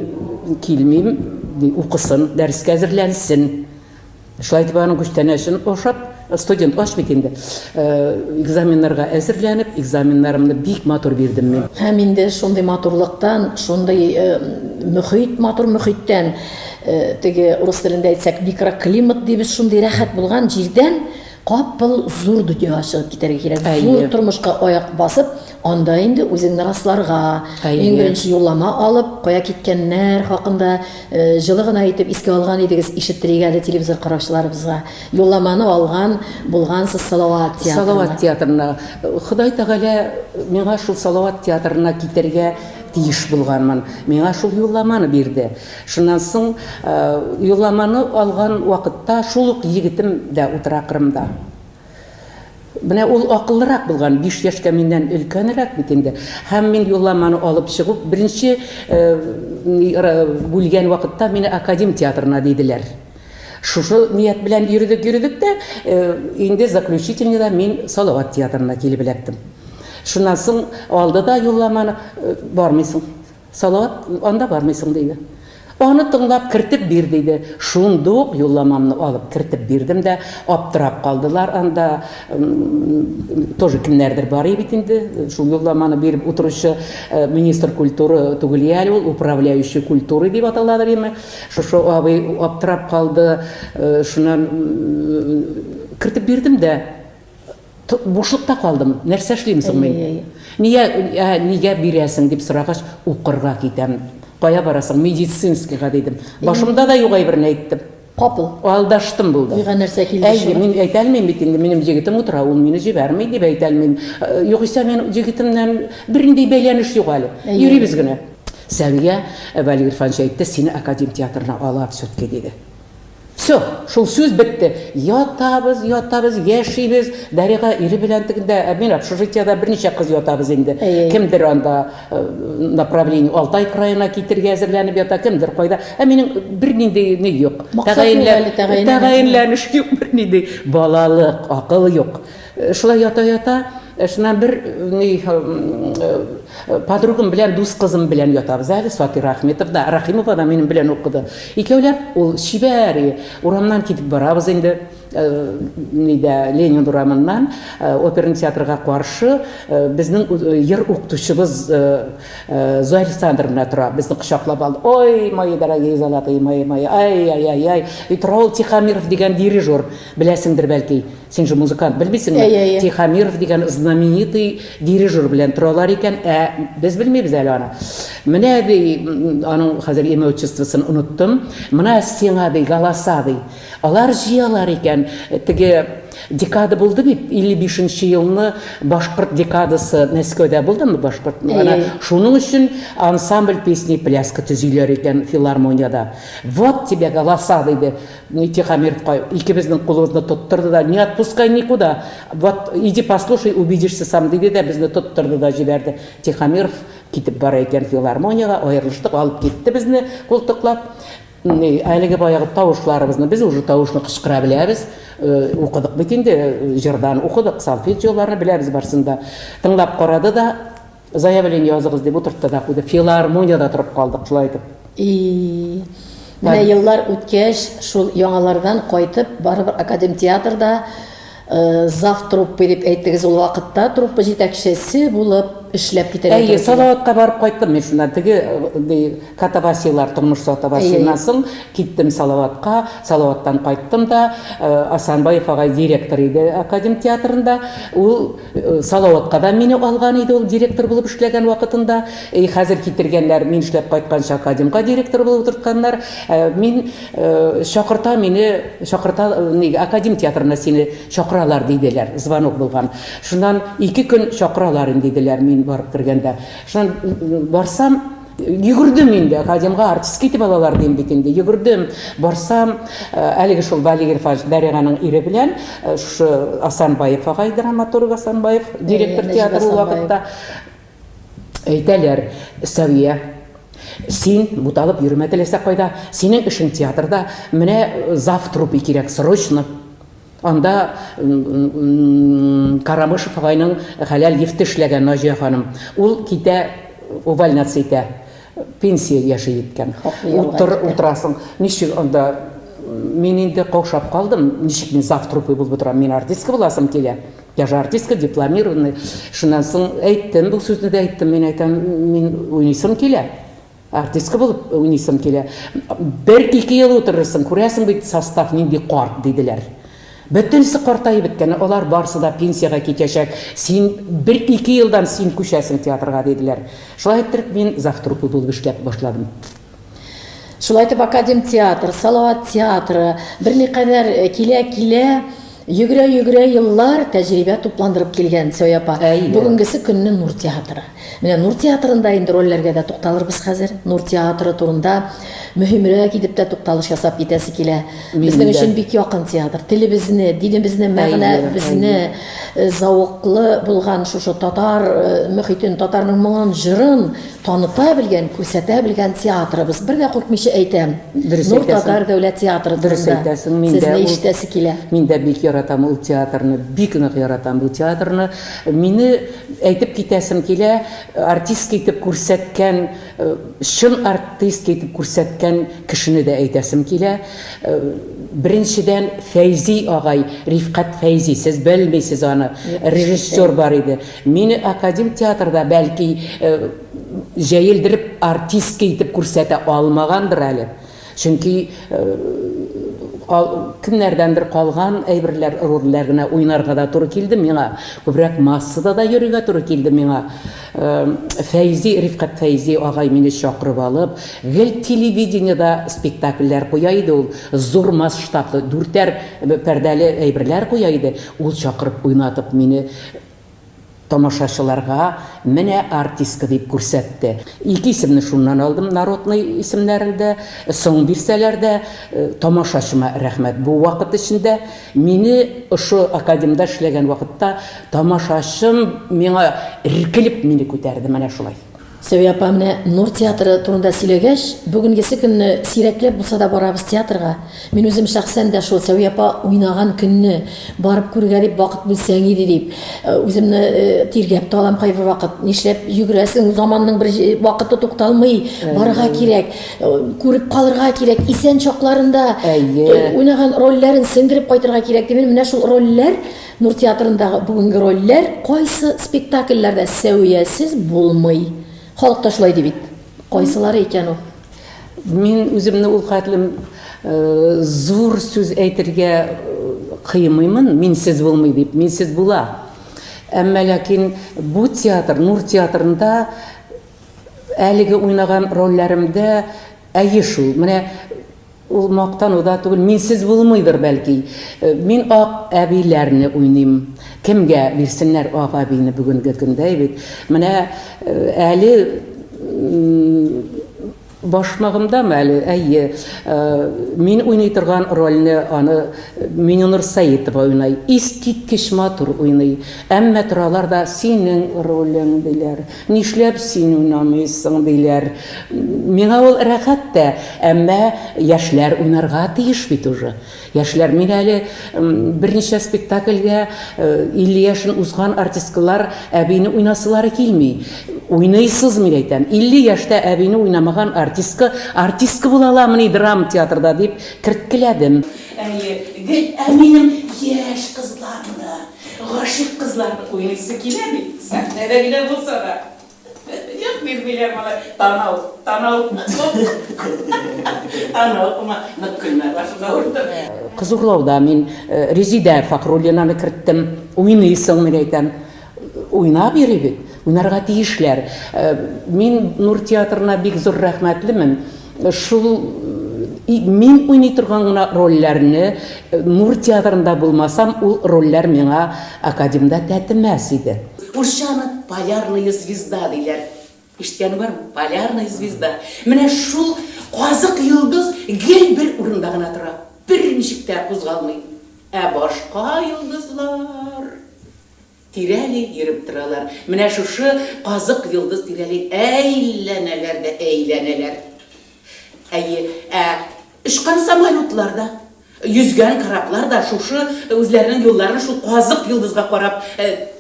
килмим, ди, укысын, дәрескә әзерләнсен. Шулай итеп аның күчтәнәчен ашап, студент аш бит инде. Э, экзаменнарга әзерләнеп, экзаменнарымны бик матур бирдем мин. Һәм инде шундый матурлыктан, шундый э, мөхит, матур мөхиттән, э, теге урыс телендә әйтсәк, микроклимат дибез, шундый рәхәт булган җирдән капыл зур дөньяга чыгып китәргә кирәк. Зур тормышка аяк басып, Анда инде үзеңне расларга, иң беренче юллама алып, кая киткәннәр хакында җылы гына итеп искә алган идегез, ишеттерик әле телевизор караучыларыбызга. Юлламаны алган булгансыз Салават театрына. Салават театрына. Ходай Тәгалә миңа шул Салават театрына китәргә тиеш булганмын. Миңа шул юлламаны бирде. Шуннан соң юлламаны алган вакытта шул ук егетем дә утыра Кырымда. Менә ул акыллырак булган, биш яшькә миннән өлкәнрәк бит инде. Һәм мин юлламаны алып чыгу, беренче бүлгән вакытта мине Академ театрына диделәр. Шушы ният белән йөрдек, йөрдек тә, инде заключительныйда мин Салават театрына килеп эләктем. Шуннан соң алды да юлламаны, бармыйсың. Салават анда бармый соң, диде. Аны тыңлап, кертеп бир, диде. Шундук юлламамны алып кертеп бирдем дә, аптырап калдылар анда, тоже кемнәрдер бар и бит инде, шул юлламаны биреп утыручы министр культуры түгел и әле ул, управляющий культурой дип аталадыр име, шушы абый аптырап калды, шуннан кертеп бирдем дә. Бушлыкта калдым, нәрсә эшлим соң мин? Нигә, ә, нигә бирәсең дип сорагач, укырга китәм. Кая барасың? Медицинскийга дидем. Башымда да юк әйберне әйттем. Капыл. Алдаштым булды. Миңа нәрсә килде? Әйе, мин әйтә алмыйм бит инде, минем җегетем утыра, ул мине җибәрми дип әйтә алмыйм. Э, югыйсә мин җегетемнән бернинди бәйләнеш юк әле. Йөрибез генә. Сәвия э, Валерий Ирфанович әйтте, сине академ театрына алар все-таки диде. Всё, шул сүз бетте. Ятабыз, ятабыз, яшибез. Дарига ире белән тегендә, ә мин общежитиедә берничә кыз ятабыз инде. Кемдер анда э, направление Алтай краена китергә әзерләнеп ята, кемдер кайда. Ә минем бернинди ни юк. Тәгаенләнеш юк, бернинди балалык, акыл юк. Шулай ята-ята, шуннан бер ни подругам белән дус кызым белән ятабыз әле, Сатир Ахметов да, Рахимова да минем белән укыды. Икәүләп ул чибәр, урамнан китеп барабыз инде, нидә, Ленин урамыннан, оперный театрга каршы, безнең йыр укытучыбыз Зоя Александровна тора, безне кочаклап алды. Ой, мои дорогие золотые, мои, мои, ай-яй-яй-яй, тора ул Тихомиров дигән дирижер, беләсеңдер бәлки. Син же музыкант, белмисеңме? Әй, әй, әй. Тихомиров дигән знаменитый дирижер белән торалар икән, ә без белмибез әле аны. Менә ди, м, аның хәзер имя отчествосын оныттым. Менә сиңа ди, галаса ди. Алар җыялар икән. Теге декада булды бит, 55 елны башкорт декадасы Мәскәүдә булдымы башкорт? Әй, Ана әй. шуның өчен ансамбль песни и пляски төзиләр икән филармониядә. Вот тебе галаса, диде. Ни Тихомиров кай, икебезнең кулыбызны тоттырды да, не отпускай никуда, вот иди послушай, убедишься сам, диде дә безне тоттырды да җибәрде. Тихомиров китеп бара икән филармониягә, аерылыштык, алып китте безне култыклап. Әлеге баягы тавышларыбызны, без уже тавышны кычкыра беләбез, укыдык бит инде, җырдан укыдык, сольфеджиоларны беләбез барсын да. Тыңлап карады да. Заявление языгыз дип утыртты да куйды. Филармониядә торып калдык шулай итеп. И. Менә еллар үткәч, шул яңалардан кайтып, барыбер академ театрда э, зав труппы дип әйттегез ул вакытта, труппа җитәкчесе булып эшләп китәргә Әйе, Салаватка барып кайттым мин шуннан. Теге э, катавасийлар, тормыш сатавасиеннан соң киттем Салаватка, Салаваттан кайттым да, э, Асанбаев агай директор иде академ театрында. Ул Салаватка да мине алган иде ул директор булып эшләгән вакытында. Әй, хәзер китергәннәр, мин эшләп кайтканчы академга директор булып утыртканнар. Ә мин, Чакырта мине, чакырта, нигә, академ театрына сине чакыралар, диделәр, звонок булган. Шуннан ике көн чакыралар инде, диделәр, мин барып кергәндә. Шуннан барсам. Йөгердем инде, академга артистка итеп алалар дим бит инде. Йөгердем, барсам, э, әлеге шул Вали Гирфач Бәриганың ире белән э, шушы Асанбаев агай драматург Асанбаев директор Нәҗиб театры ул Асанбаев. вакытта әйтәләр, Сәвия, син буталып йөрмә теләсә кайда, синең эшең театрда, менә э, зав труппе кирәк, срочно. Анда Карамышев агайның хәләл лифты эшләгән Наҗия ханым. Ул китә, увольняться итә. Пенсия яше җиткән. Утырасың, ничек анда мин инде каушап калдым, ничек мин завтрупой булып утырам, мин артистка буласым килә. Я же артистка, дипломированный. Шуннан соң әйттем, бу сүзне дә әйттем, мин әйтәм, мин уйныйсым килә. Артистка булып уйныйсым килә. Бер-ике ел утырырсың, күрәсең бит, состав нинди карт, диделәр. Бөтенесе картаеп беткән, алар барысы да пенсиягә китәчәк, син бер-ике елдан син күчәсең театрга, диделәр. Шулай иттереп, мин завтруппа булып эшләп башладым. Шулай итеп, Академтеатр, Салават театры берникадәр килә-килә, Йөгерә-йөгерә еллар тәҗрибә тупландырып килгән Цой апа бүгенгесе көнне Нур театры. Менә Нур театрында инде рольләргә дә тукталырбыз хәзер. Нур театры турында мөһимрәк итеп тә тукталыш ясап китәсе килә. Безнең өчен бик якын театр. Телебезне, динебезне, мәгънәбезне зәвыклы булган шушы татар мөхитен, татарның моңын, җырын Таныта белгән, күрсәтә белгән театрыбыз. Бер дә куркмыйча әйтәм. Дөрес Нур әйтәсең. татар дәүләт театры Дөрес турында әйтәсең, мин дә Сезне ул- ишетәсе килә. Мин дә бик яратам ул театрны, бик нык яратам бу театрны. Мине әйтеп китәсем килә, артистка итеп күрсәткән, э, чын артистка итеп күрсәткән кешене дә әйтәсем килә. Э, Беренчедән, Фәйзи агай, Рифкать Фәйзи, сез белмисез аны, Юк, режиссер бар иде. Мине академ театрда, бәлки, җәелдереп артистка итеп күрсәтә алмагандыр әле. Чөнки кемнәрдәндер калган әйберләр, рольләр генә уйнарга да туры килде миңа. Күбрәк массада да йөрергә туры килде миңа. Фәйзи, Рифкать Фәйзи агай мине чакырып алып, гел телевидениедә спектакльләр куя иде ул. Зур масштаблы, дүртәр пәрдәле әйберләр куя иде. Ул чакырып уйнатып мине Тамашачыларга менә артистка дип күрсәтте. Ике исемне шуннан алдым, народный исемнәрен дә, соң бирсәләр дә. Тамашачыма рәхмәт. Бу вакыт эчендә мине ошо академда эшләгән вакытта тамашачым миңа эркелеп мине күтәрде, менә шулай. Сәвия апа менә Нур театры турында сөйләгәч, бүгенгесе көнне сирәкләп булса да барабыз театрга. Мин үзем шәхсән дә шул Сәвия апа уйнаган көнне барып күрергә дип вакыт бүлсәң иде дип, үземне тиргәп тә алам кайбер вакыт. Нишләп йөгерәсең, заманның бер вакыты тукталмый, барырга кирәк, күреп калырга кирәк, исән чакларында уйнаган рольләрен сеңдереп кайтырга кирәк дип, менә шул рольләр Нур театрындагы бүгенге рольләр кайсы спектакльләрдә Сәвиясез булмый? Халык та шулай ди бит. Кайсылары икән ул? Мин үземне ул кадәр зур сүз әйтергә кыймыймын, минсез булмый дип, минсез була. Әмма ләкин бу театр, Нур театрында әлеге уйнаган рольләремдә Әйе шул, менә ул мактану да түгел, минсез булмыйдыр, бәлки. Мин ак әбиләрне уйныйм. Кемгә бирсеннәр ак әбине бүгенге көндә, әйбит. Менә әле башмагымдамы әле, әйе, мин уйный торган рольне аны Миненур Сәетова уйный. Искиткеч матур уйный. Әмма торалар да, синең ролең, диләр. Нишләп син уйнамыйсың, диләр. Миңа ул рәхәт тә, әмма яшьләр уйнарга тиеш бит уже. Яшьләр, мин әле берничә спектакльгә 50 яшен узган артисткалар әбине уйнасылары килми. Уйныйсыз, мин әйтәм. 50 яшьтә әбине уйнамаган артистка артистка була аламыни драма театрда, дип керткеләдем. Әйе, гел әнием яшь кызларны Гашыйк кызларны уйлыйсы килә бит, сәхнәдә генә булса да. Юк, бирмиләр малай, танау, танау. Танау кума, нык көлмә, башыңа урдым. Кызурлауда мин Резидә Фахруллинаны керттем. Уйныйсыңмы дип әйтәм. Уйнап йөри бит. Уйнарга тиешләр. Мин Нур театрына бик зур рәхмәтлемен. Шул мин уйный торган гына рольләрне Нур театрында булмасам, ул рольләр миңа академда тәтемәс иде. Урысча аны Полярная звезда диләр. Ишеткәне бармы? Полярная звезда. Менә шул казык йолдыз гел бер урында гына тора, берничек тә кузгалмый. Ә башка йолдызлар... Тирәли йөреп торалар. Менә шушы казык йолдыз тирәли әй-ләнәләр дә әй-ләнәләр. Әйе, ә очкан самолетлар да, йөзгән кораблар да шушы үзләренең юлларын шул казык йолдызга карап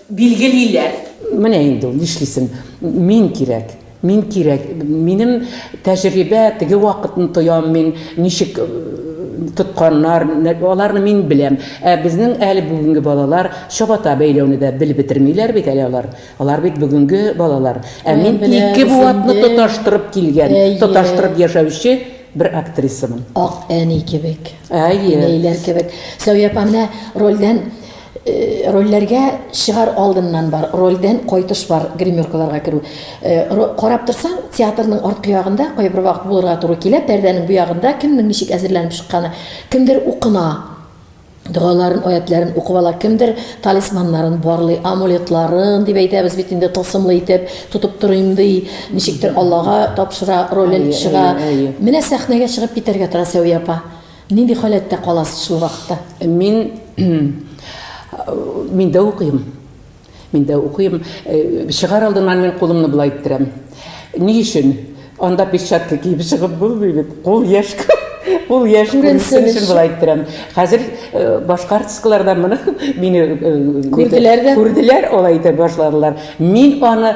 билгелиләр. Менә инде ул, нишлисең, мин кирәк. Мин кирәк. Минем тәҗрибә, теге вакытны тоям мин, ничек тотканнар, аларны мин беләм. Ә безнең әле бүгенге балалар чабата бәйләүне дә белеп бетермиләр бит әле алар. Алар бит бүгенге балалар. Ә мин ике буатны тоташтырып килгән, тоташтырып яшәүче бер актрисамын. Ак әни кебек. Әйе. Әниләр кебек. Сәвия апа, менә рольдән Рольләргә чыгар алдыннан бар, рольдән кайтыш бар, гримеркаларга керү. Карап торсаң, театрның арткы ягында, кайбер вакыт булырга туры килә, пәрдәнең бу ягында кемнең ничек әзерләнеп чыкканы, кемдер укына, догаларын, аятьләрен укып ала, кемдер талисманнарын барлый, амулетларын, дип әйтәбез бит инде, тылсымлы итеп тотып торыйм ди, ничектер Аллага тапшыра, ролен чыга. Менә сәхнәгә чыгып китәргә тора Сәвия апа. Нинди халәттә каласыз шул вакытта? Мин мин дә укыйм. Мин дә укыйм. Чыгар алдыннан мин кулымны болай иттерәм. Ни өчен? Анда перчатка киеп чыгып булмый бит. Кул яшь Ул яшь күренсен өчен болай иттерәм. Хәзер башка артисткалар да моны мине күрделәр дә. Күрделәр, алай итә башладылар. Мин аны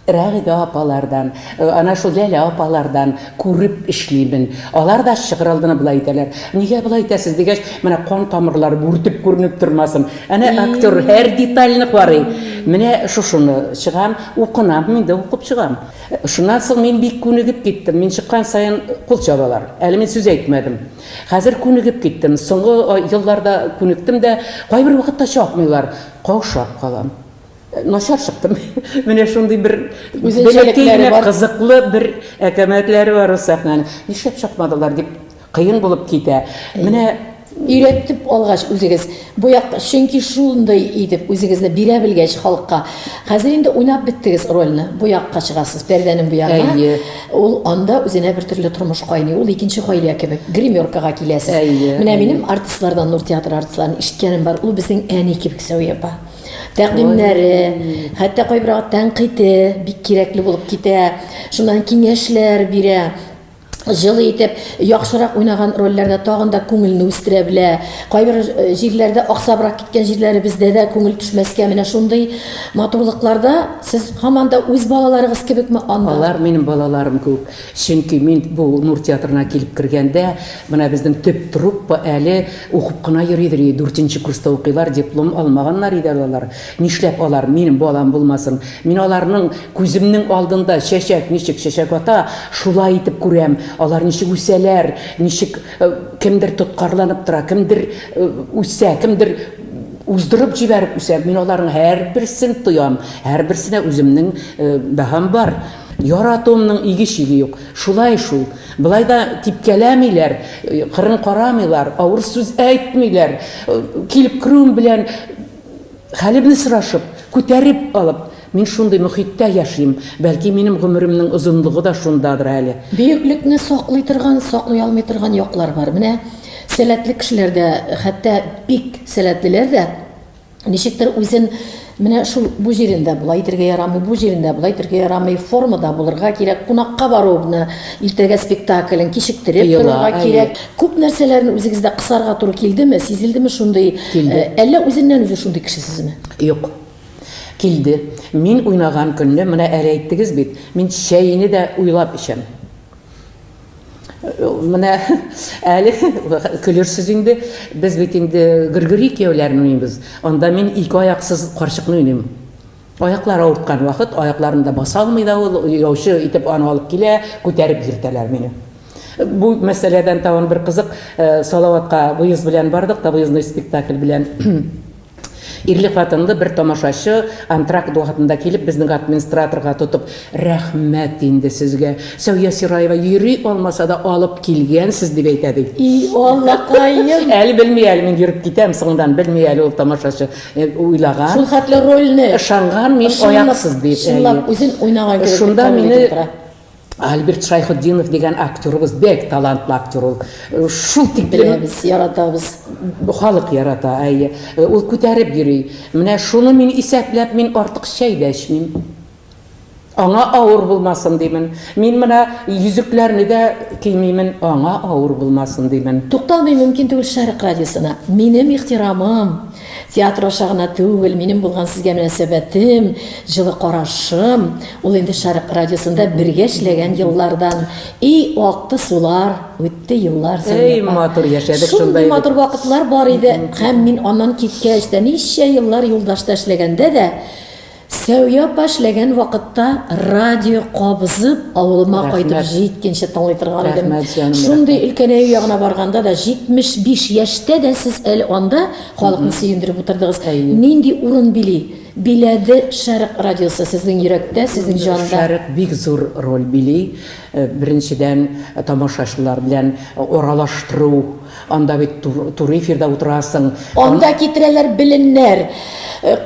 Рәгыйдә апалардан, ана шул Ләлә апалардан күреп эшлимен. Алар да чыгыр алдына болай әйтәләр, Нигә болай итәсез? дигәч, Менә кан тамырлары бүртеп күренеп тормасын. Әнә актер һәр детальне карый. Менә шушыны чыгам, укынам, мин дә укып чыгам. Шуннан соң мин бик күнегеп киттем. Мин чыккан саен кул чабалар. Әле мин сүз әйтмәдем. Хәзер күнегеп киттем. Соңгы елларда күнектем дә, кайбер вакытта чапмыйлар, каушап калам. Начар чыктым. Менә шундый бер бәләкәй генә кызыклы бер әкәмәтләре бар ул сәхнәнең. Нишләп чыкмадылар дип кыен булып китә. Менә өйрәтеп алгач үзегез, бу як, чөнки шундый итеп үзегезне бирә белгәч халыкка. Хәзер инде уйнап беттегез рольне, бу якка чыгасыз, пәрдәнең бу ягына. Әйе. Ул анда үзенә бер төрле тормыш кайный, ул икенче гаилә кебек, гримеркага киләсез. Әйе. Менә минем артистлардан, Нур театры артистларын ишеткәнем бар, ул безнең әни кебек Сәвия апа. тәкъдимнәре, хәтта кайберәү тәнкыйте бик кирәкле булып китә. Шуннан киңәшләр бирә. Җылы итеп, яхшырак уйнаган рольләрдә тагын да күңелне үстерә белә. Кайбер э, җирләрдә аксабрак киткән җирләре бездә дә күңел төшмәскә менә шундый матурлыкларда сез һаман да үз балаларыгыз кебекме анда? Алар минем балаларым күк. Чөнки мин бу Нур театрына килеп кергәндә, менә безнең төп труппа әле укып кына йөридер иде, дүртенче курста укыйлар, диплом алмаганнар иде әле алар. Нишләп алар минем балам булмасын? Мин аларның күземнең алдында чәчәк ничек чәчәк ата, шулай итеп күрәм, алар ничек үсәләр, ничек кемдер тоткарланып тора, кемдер үсә, кемдер уздырып җибәреп үсә, мин аларның һәрберсен тоям, һәрберсенә үземнең бәһам бар. Яратуымның иге-чиге юк. Шулай шул. Болай да типкәләмиләр, кырын карамыйлар, авыр сүз әйтмиләр. Килеп керүем белән хәлемне сорашып, күтәреп алып, Мин шундый мохиттә яшим, бәлки минем гомеремнең озынлыгы да шундадыр әле. Бөеклекне саклый торган, саклый алмый торган яклар бар. Менә сәләтле кешеләр дә, хәтта бик сәләтлеләр дә, Ничектер үзен менә шул бу җирендә була итергә ярамый, бу җирендә була итергә ярамый, формада булырга кирәк, кунакка баруыбны иртәгә спектаклен кичектереп Тыела, торырга әйе. кирәк. Күп нәрсәләрне үзегездә кысарга туры килдеме, сизелдеме шундый? Килде. Э, Әллә үзеннән үзе шундый кеше сезме? Юк. Килде. Мин уйнаган көнне, менә әле әйттегез бит, мин чәйне дә уйлап эчәм. Менә әле көлерсез инде, без бит инде гөргери кияүләрен уйныйбыз. Анда мин ике аяксыз карчыкны уйныйм. Аяклар авырткан вакыт, аякларында баса алмый да ул, яучы итеп аны алып килә, күтәреп йөртәләр мине. Бу мәсьәләдән тагын бер кызык, э, Салаватка выезд белән бардык та, выездной спектакль белән. Ирле-хатынлы бер тамашачы антракт вакытында килеп, безнең администраторга тотып, Рәхмәт инде сезгә, Сәүия Сираева йөри алмаса да, алып килгәнсез, дип әйтә, ди. И Аллакаем! Әле белми әле мин йөреп китәм соңыннан, белми әле ул тамашачы. Уйлаган. Шул хәтле рольне. Ышанган мин аяксыз дип. Чынлап үзен уйнаган кебек. Шунда мине. Альберт Шайхутдинов дигән актерыбыз, бәк талантлы актер ул. Э, шул тик беләбез, яратабыз. Халык ярата, әйе. Э, ул күтәреп йөри. Менә шуны мин исәпләп, мин артык чәй дә эчмим. Аңа авыр булмасын димен. Мин менә йөзекләрне дә кимимен, аңа авыр булмасын димен. Тукталмый мөмкин түгел Шәрык радиосына. Минем ихтирамым. Театр аша гына түгел, минем булган сезгә мөнәсәбәтем, җылы карашым, ул инде Шәрык радиосында бергә эшләгән еллардан. И акты сулар, үтте еллар саен. Эй, матур яшәдек шунда. Шундый матур вакытлар бар иде. Һәм мин аннан киткәч тә, ничә еллар юлдашта эшләгәндә дә, Сәвия апа эшләгән вакытта радио кабызып авылыма кайтып җиткенче тыңлый торган идем. Шундый өлкәнәю ягына барганда да 75 яшьтә дә сез әле анда халыкны сөендереп утырдыгыз. Нинди урын били? Биләде Шәрык радиосы сезнең йөрәктә, сезнең җанда. Шәрык бик зур роль били. Беренчедән, тамашачылар белән аралаштыру. Анда бит туры эфирда утырасың. Анда китерәләр беленнәр,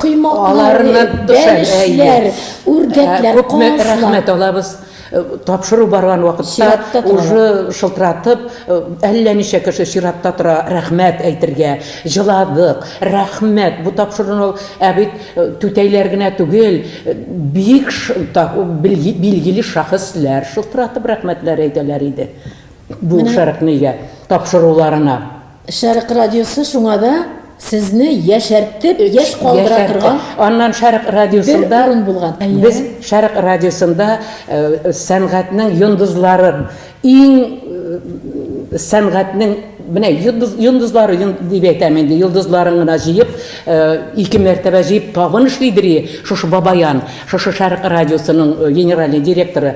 коймаклар, бәлешләр, үрдәкләр, казлар. Күпме рәхмәт алабыз. Тапшыру барган вакытта уже шылтыратып, әллә ничә кеше чиратта тора, рәхмәт әйтергә. Җыладык, рәхмәт. Бу тапшыруны ә бит түтәйләр генә түгел, бик билгеле шәхесләр шылтыратып рәхмәтләр әйтәләр иде. Бу Менә... шәрекне өйгә тапшыруларына. Шәрек радиосы шуңа да сезне яшәртеп, яшь калдыра торган. Аннан Шәрык радиосында урын булган. Без Шәрык радиосында э, сәнгатьнең йондызларын иң э, сәнгатьнең менә йондыз, йондызлары дип әйтәм инде йондызларын гына җыеп э, ике мәртәбә җыеп табын эшли дери шушы бабаян шушы шәрык радиосының генеральный директоры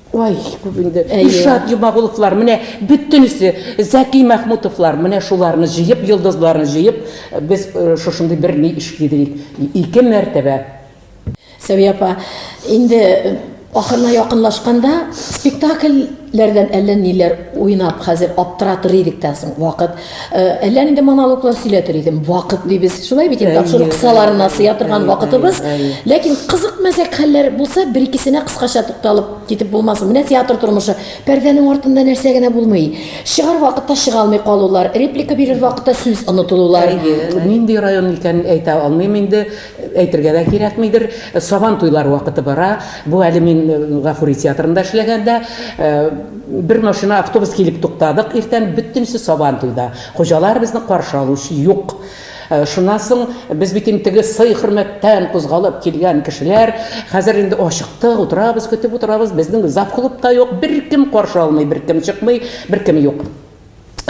Ой, бу инде Илшат Йомагуловлар, менә бөтенесе, Зәки Мәхмүтовлар, менә шуларны җыеп, йолдызларны җыеп, без э, шушындый бер ни эшли дидек. Ике мәртәбә. Сәвия апа, инде э, ахырына якынлашканда спектакльләрдән әллә ниләр уйнап, хәзер аптыратыр идек тә соң вакыт. Э, әллә нинди монологлар сөйләтер идем вакыт дибез шулай бит инде тапшыру кысаларына сыя торган вакытыбыз ләкин кызык мәзәк хәлләр булса бер икесенә кыскача тукталып китеп булмасын менә театр тормышы пәрдәнең артында нәрсә генә булмый чыгар вакытта чыга алмый калулар реплика бирер вакытта сүз онытылулар нинди район икәнен әйтә алмыйм инде Әйтергә дә кирәкмидер, Сабантуйлар вакыты бара. Бу әле мин Гафури театрында эшләгәндә, бер машина, автобус килеп туктадык иртән, бөтенесе Сабантуйда. Хуҗалар безне каршы алучы юк. Шуннан соң без бит инде теге сый-хөрмәттән кузгалып килгән кешеләр, хәзер инде ачыктык, утырабыз, көтеп утырабыз, безнең завклуб та юк, беркем каршы алмый, беркем чыкмый, беркем юк.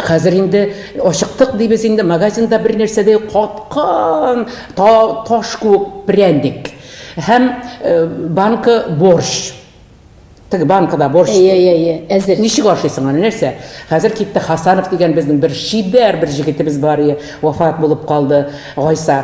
Хәзер инде ачыктык дибез инде, магазинда бер нәрсә дә каткан, та, таш күк пряндик. Һәм э, банка борщ. Тик банкада борщ. Әйе, әйе, әйе. Әзер. Ничек ашыйсың аны, нәрсә? Хәзер китте Хасанов дигән безнең бер шибәр бер җегетебез бар ие, вафат булып калды, Гайса.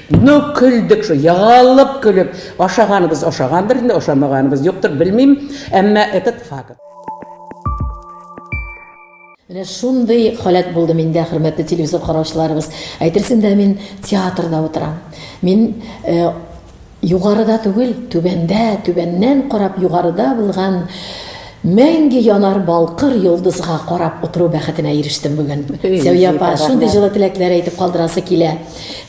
Ну, көлдек шул, егылып көлеп. Ашаганыбыз ашагандыр инде, ашамаганыбыз юктыр, белмим, әмма этот факт. Менә шундый халәт булды миндә, хөрмәтле телевизор караучыларыбыз. Әйтерсең дә мин театрда утырам. Мин э, югарыда түгел, түбәндә, түбәннән карап югарыда булган Мәңге янар балкыр йолдызга карап утыру бәхетенә ирештем бүген. Сәвия апа, шундый җылы теләкләр әйтеп калдырасы килә.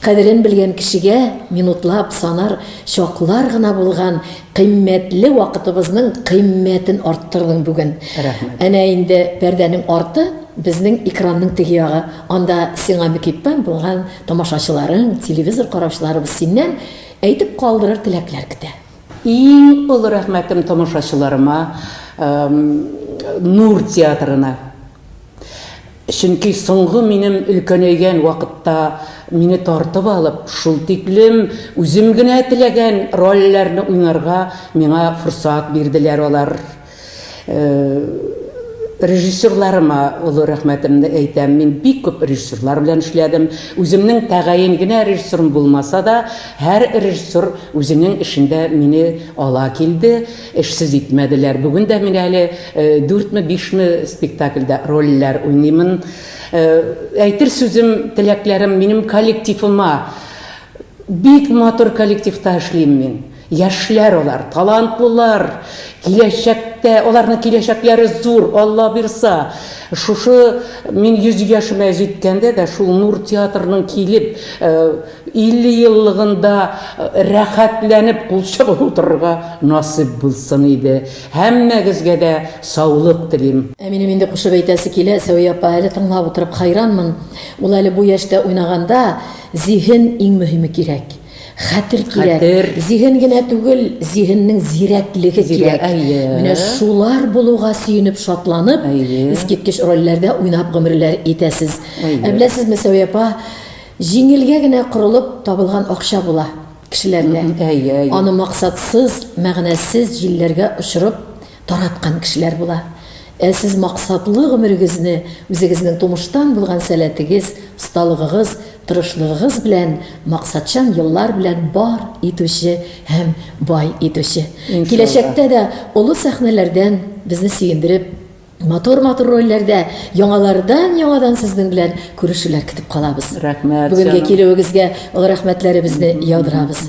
Кадерен белгән кешегә минутлап санар чаклар гына булган кыйммәтле вакытыбызның кыйммәтен арттырдың бүген. Рәхмәт. Әнә инде пәрдәнең арты, безнең экранның теге ягы. Анда сиңа мөкиббән булган тамашачыларың, телевизор караучыларыбыз синнән әйтеп калдырыр теләкләр көтә. Иң олы рәхмәтем тамашачыларыма, Нур театрына. Чөнки соңгы минем өлкәнәйгән вакытта мине тартып алып, шул тиклем үзем генә теләгән рольләрне уйнарга миңа форсат бирделәр алар. Режиссерларыма олы рәхмәтемне әйтәм. Мин бик күп режиссерлар белән эшләдем. Үземнең тәгаен генә режиссерым булмаса да, һәр режиссер үзенең эшендә мине ала килде, эшсез итмәделәр. Бүген дә мин әле дүртме, бишме спектакльдә рольләр уйныймын. Әйтер сүзем, теләкләрем минем коллективыма. Бик матур коллективта эшлим мин. Яшьләр алар, талантлылар, киләчәктә, аларның киләчәкләре зур, Алла бирса, шушы мин 100 яшемә җиткәндә дә шул Нур театрының килеп, 50 еллыгында рәхәтләнеп кул чабып утырырга насыйп булсын иде. Һәммәгезгә дә саулык телим. Ә минем инде кушып әйтәсе килә, Сәвия апа, әле тыңлап утырып хайранмын, ул әле бу яшьтә уйнаганда, зиһен иң мөһиме кирәк. Хәтер кирәк. Хәтер. Зиһен генә түгел, зиһеннең зирәклеге Зирәк, кирәк. әйе. Менә шулар булуга сөенеп, шатланып, Әйе. искиткеч рольләрдә уйнап гомерләр итәсез. Әйе. Ә беләсезме, Сәвия апа, җиңелгә генә корылып табылган акча була кешеләрдә. Әйе, әйе. Аны максатсыз, мәгънәсез җилләргә очырып, тараткан кешеләр була. Ә сез максатлы гомерегезне үзегезнең тумыштан булган сәләтегез, осталыгыгыз, тырышлыгыгыз белән, максатчан еллар белән бар итүче һәм бай итүче. Киләчәктә дә олы сәхнәләрдән безне сөендереп, матур-матур рольләрдә, яңалардан-яңадан сезнең белән күрешүләр көтеп калабыз. Рәхмәт, җаным. Бүгенге килүегезгә олы рәхмәтләребезне яудырабыз.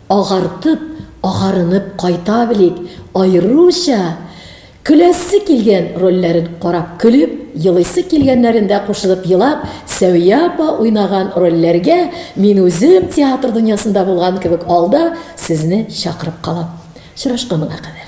Агартып, агарынып кайта белик, аеруча көләсе килгән рольләрен карап көлеп, елыйсы килгәннәрендә кушылып елап, Сәвия апа уйнаган рольләргә мин үзем театр дөньясында булган кебек алда сезне чакырып калам. Очрашканга кадәр.